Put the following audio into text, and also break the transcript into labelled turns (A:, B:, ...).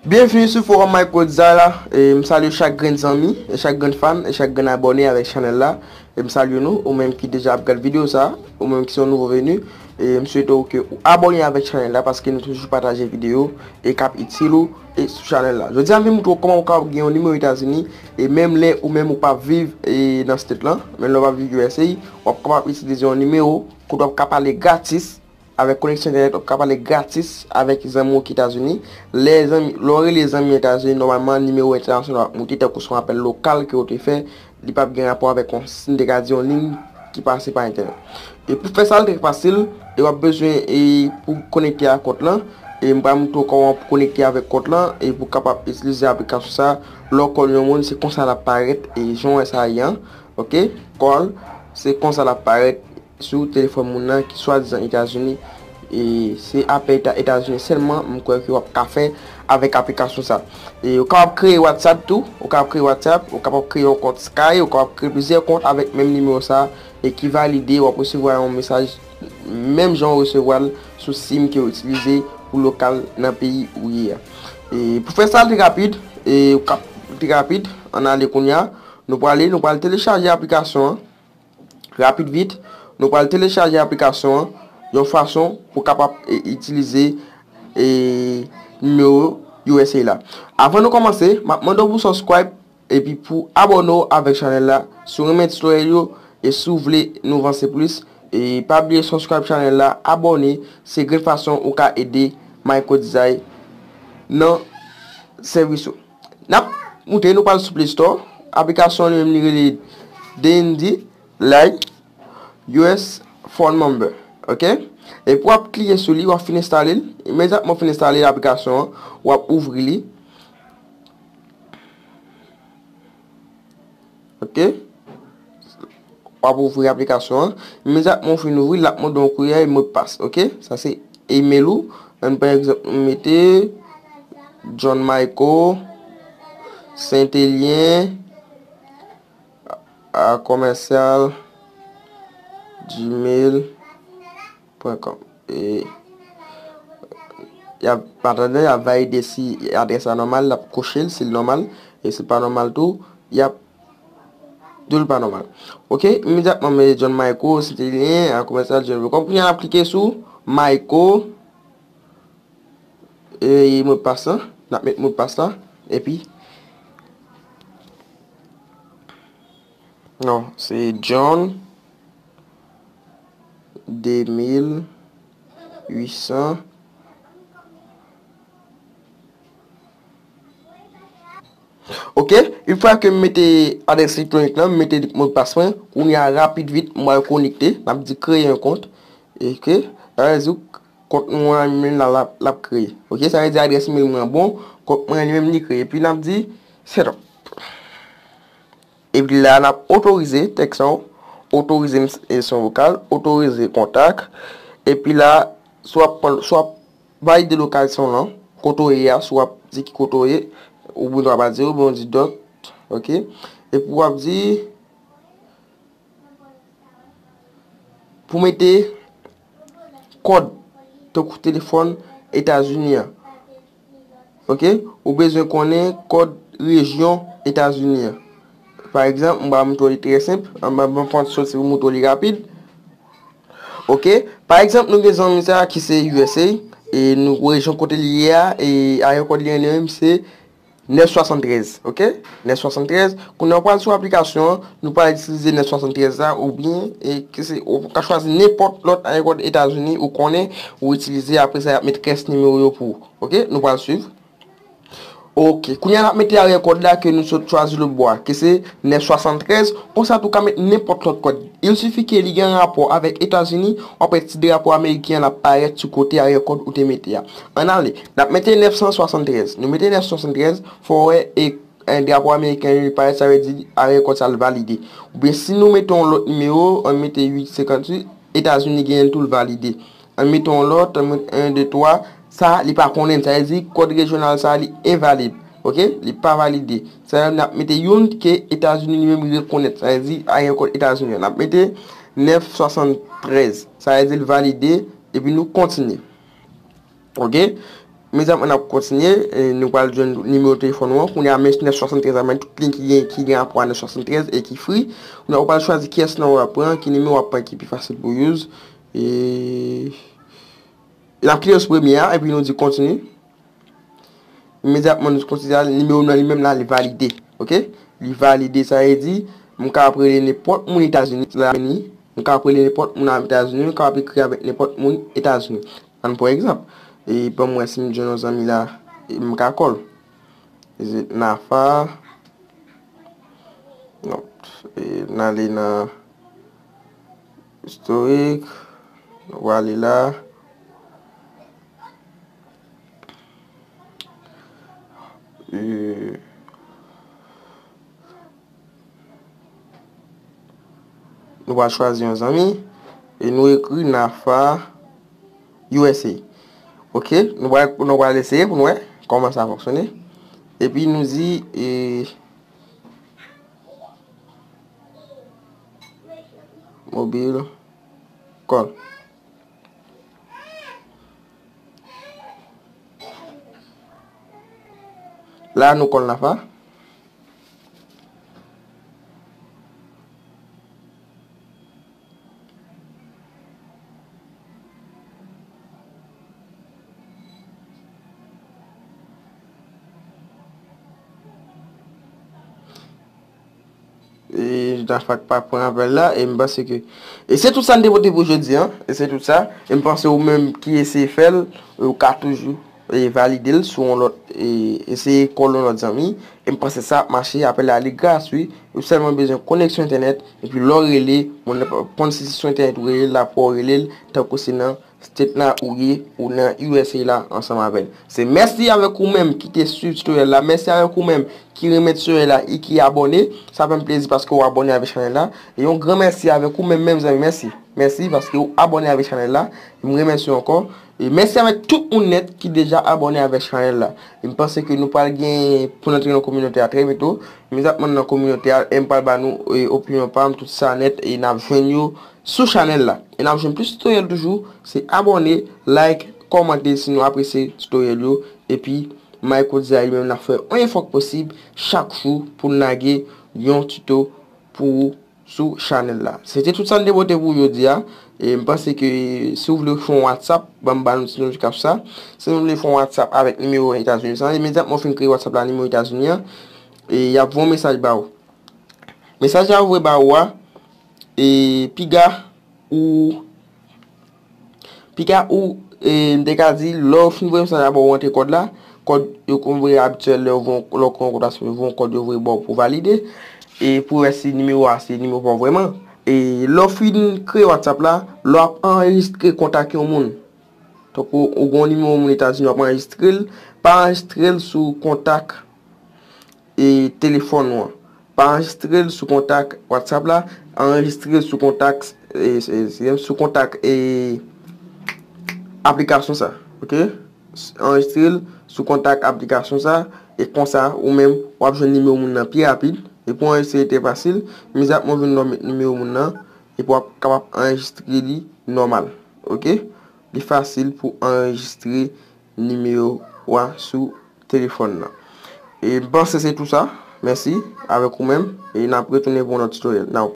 A: Byenvni sou forum Mike Godza la m salye chak grenn zanmi e chak grenn fan e chak grenn abòne avèk chanèl la e m salye nou ou menm ki deja ap gad video sa ou menm ki se yon nouvo venu e m swete w ke ou abòne avèk chanèl la paske nou toujou pataje video e kap itil ou e sou chanèl la jodi a m vin moutre w kòman ou ka gen yon nimewo etazini e menm lè ou menm ou pa viv e nan state lan menm lè ou pa viv usa wap kapab itilize yon nimewo kote wap ka pale gratis Avèk koneksyon entènèt wap ka pale gratis avèk zanmi w ki etazini, lè zanmi lè w rele zanmi an etazini nòmalman nimewo entènasyonal wap moute tankou son apèl lokal ke w te fè li pap gen rapò avèk yon si n te ka di yon liy ki pase pa entènèt e pou fè sa l trè fasil e wap bezwen e pou konekte a kont lan e m pral moute w kòman pou konekte avèk kont lan e pou kapab itilize aplikasyon sa lè w kòl yon moun se konsa lap parèt e jan w wè sa ye an ok kòl se konsa lap parèt. Sou telefòn moun nan ki swadizan Etazini e se apèl ta Etazini sèlman m kwè ke wap ka fè avèk aplikasyon sa. E ou kapab kreye WhatsApp tou, ou kapab kreye WhatsApp, ou kapab kreye yon kont Sky, ou kapab kreye plizyè kont avèk menm nimewo sa e ki valide wap resevwa yon mesaj menm jan ou resevwa l sou sim ke ou itilize pou lokal nan peyi ou ye a. E pou fè sa li rapid e ou kap li rapid ann ale kounya nou prale nou pral telechaje aplikasyon an. Rapid vit, nou pral telechaje aplikasyon an yon fason pou kapab itilize nimewo usa la. Avan nou kòmanse, m ap mande w pou subscribe epi pou abòne w avèk chanèl la si w renmen tutoriel yo e si w vle nou vanse plis. Pa bliye subscribe chanèl la, abòne, se grenn fason ou ka ede MyCodeDesign nan sèvis ou. Nap moute nou pral sou play store aplikasyon li menm li rele dndi lay us phone number ok epi wap klike sou li wap fin enstale l imediatman ou fin enstale aplikasyon an wap ouvri li Ok. Ou ap ouvri aplikasyon an. Imediatman ou fin ouvri, lap mande yon kourye yon mot pas. Ok. Sa se email ou. An pa egzanp nou mete John Michael Saint-Elien a commercial gmail. Pwen kòm. E. Yap atande, yap valide si adrès la nòmal, lap koche l si l nòmal, e si l pa nòmal tou, yap di w li pa nòmal. Ok, imedyatman mwen jwenn Mayko, Sitilyen, a komèsyal jwen vekòm. Kounye a nap klike sou Mayko, e modpas lan, nap met modpas la, epi. Non, se John 2800 Ok, yon fwa ke m mete adrès elektwonik lan, m mete modpas mwen, kounye a rapid vit m al konekte, m ap di kreye yon kont, ok, sa vle di kont nou an li menm la l ap kreye, ok, sa vle di adrès email mwen an bon, kont mwen an li menm li kreye, epi n ap di setup. Epi la n ap otorize tèks lan, otorize son vokal, otorize kontak. Epi la, si w ap pran, si w ap valide lokalson lan, kote w ye a, si w ap di ki kote w ye, oubyen w pa di, oubyen w di dot, ok. Epi w ap di, pou w mete kòd, tankou telefòn Etazini an. Ok, ou bezwen konnen kòd rejyon Etazini an. Pa egzanp, m ba mouton li trè senp, m ba mouton sòt se mouton li rapid. Ok, pa egzanp nou gen zanmi sa ki se usa, e nou rejyon kote li ye a, e ayè kòd li an li menm se 973. Ok. Nèf 73, Kounye a ou pral sou aplikasyon an, nou pral itilize nèf 73 la oubyen ou ka chwazi nenpòt lòt arekòd Etazini ou konnen ou itilize apre sa y ap met rès nimewo yo pou ou. Ok, nou pral swiv. Ok, kounye a n ap mete arekòd la ke nou sot chwazi lòt bò a, ke se nèf 73, konsa tou ka met nenpòt lòt kòd. Il sifi ke li gen rapò avèk Etazini, w ap wè ti drapo ameriken an ap parèt sou kote arekòd ou te mete a. Ann ale, n ap mete nèf 173, nou mete nèf 173, Fò wè e drapo ameriken yo parèt sa vle di arè kòd sa l valide. Oubyen si nou mete yon lòt nimewo an mete 8 58 etazini genyen l tou l valide. An mete yon lòt an met 1 2 3 sa li pa konnen l sa vle di kòd rejyonal sa li envalid ok li pa valide sa vle di nap mete youn ke etazini li menm li rekonèt sa vle di arè kòd etazini an nap mete 9 73 sa vle di l valide epi nou kontinye. Ok Mezanmi an nap kontinye Nou pral jwenn nimewo telefòn ou an Kounye a mèsi 973 la men tout link ki gen ki gen rapò a 973 e ki free Kounye a ou pral chwazi kiyès nan ou ap pran Ki nimewo ou ap pran ki pi fasil pou ou use E Nap klike sou premye a epi nou di kontini Imedyatman nou kontini a Nimewo nou an li menm la li valide Ok Li valide sa vle di M ka ap rele nenpòt moun etazini M ka ap rele nenpòt moun etazini M ka ap ekri avèk nenpòt moun etazini Ann pran egzanp, ban m wè si m jwenn yon zanmi la m ka kòl. Nafa, non, n ale nan istorik, nou prale la. Nou pral chwazi yon zanmi. E nou ekri Nafa usa. Ok, nou pral eseye pou nou wè kòman sa fonksyone. E pi nou di... Mobile call. La nou call Nafa. E jda fwa k pa pran apèl la E m panse ke E se tout sa n te pote pou jodi an E se tout sa E m panse ou menm ki eseye fè l Ou ka toujou Valide l sou yon lòt eseye kòl yon lòt zanmi e m panse sa ap mache apèl la li gras wi ou sèlman bezwen koneksyon entènèt epi lè w rele moun nan pap reponn si se sou entènèt ou rele l la fò w rele l tankou se nan state la ou ye ou nan usa la ansanm avèl se mèsi avèk ou menm ki te swiv tutorial la mèsi avèk ou menm ki renmen tutorial la e ki abòne sa fè m plezi paske ou abòne avèk chanèl la e yon gran mèsi avèk ou menm menm zanmi mèsi mèsi paske ou abòne avèk chanèl la m remèsi w ankò. E mèsi avèk tout moun nèt ki deja abòne avèk chanèl la. E m panse ke nou pral gen pou n antre nan kominote a trè byento. M zap man nan kominote a e m pral ba nou opinyon pa m, tout sa nèt e n ap jwenn yo sou chanèl la. E n ap jwenn plis titoryèl toujou, se abòne, like, kòmante si nou apresye titoryèl yo. Epi Mayko di a li menm l ap fè yon efò k posib chak jou pou l lage yon tito pou ou. sou chanèl la. Se te tout sa n te pote pou jodi a. E m panse ke si w vle fon whatsapp banm ba nou ti nou kap sa. Si nou vle fon whatsapp avèk nimewo etazini sa imedyatman w fin kreye whatsapp la nimewo etazini an e yap voye yon mesaj ba ou. Mesaj la yo voye ba ou a e piga ou Piga ou m te ka di lè ou fin voye mesaj la ba ou antre kòd la, kòd yo konn voye abityèl lè ou voye lè ou konn kontasyon yo voye yon kòd yo voye ba ou pou valide e pou wè si nimewo a se nimewo pa ou vrèman. E lè ou fin kreye Whatsapp la, lè w ap anrejistre kontak yon moun, tankou ou gen yon nimewo moun Etazini w ap anrejistre l, pa anrejistre l sou kontak. e telefòn ou an. Pa anrejistre l sou kontak WhatsApp la, anrejistre l sou kontak sou kontak e aplikasyon sa ok anrejistre l sou kontak aplikasyon sa e konsa ou menm w ap jwenn nimewo moun nan pi rapid e pou anrejistre li te fasil mizatman w vin wè w met nimewo moun nan epi w ap kapab anrejistre li nòmal ok li fasil pou anrejistre nimewo w a sou Telefòn nan. E m panse se tou sa. Mèsi. Avèk ou menm. E n ap retounen pou yon lòt titoryèl. Now.